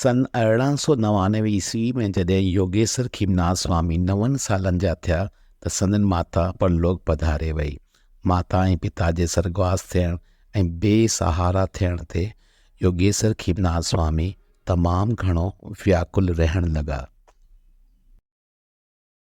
سن ارڙهن سؤ نوانوي عيسوي ۾ جڏهن يوگيسر کيمناٿ سوامي نون سالن جا ٿيا ته سندن ماتا پرلوڪ پڌاري وئي. ماتا ۽ پتا جي سرڳواس ٿيڻ ۽ بي سهارا ٿيڻ تي يوگيسر کيمناٿ سوامي تمام گهڻو وياڪل رهڻ لڳا.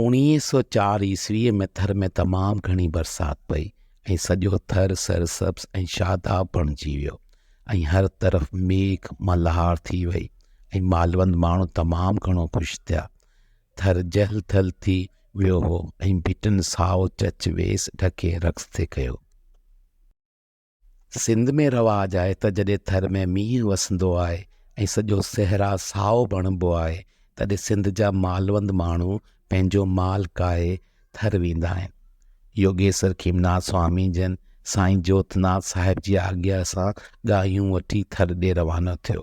اوڻيهه سؤ چار عيسويء ۾ ٿر ۾ تمام گهڻي برسات پئي ۽ سڄو ٿر سرسبز ۽ شاداب بڻجي ويو ۽ هر طرف ميگهه ملهار ٿي وئي ۽ مالوند ماڻهو تمام گهڻو خوش ٿيا. ٿر جهل ٿل ٿي ويو هو ۽ ڀٽن سائو چچ ويس ڍڪي رقص تي ڪيو. سنڌ ۾ رواج آهي ته جڏهن ٿر ۾ مينهن وسندو آهي ۽ سڄو صحرا سائو بڻبو آهي تڏهن سنڌ جا مالوند ماڻهو پنهنجو مال ڪاهي ٿر ويندا آهن. يوگيسر کيمناٿ سوامي جن سائين جوتناٿ صاحب جي آجيا سان ڳاهيون وٺي ٿر ڏي روانا ٿيو.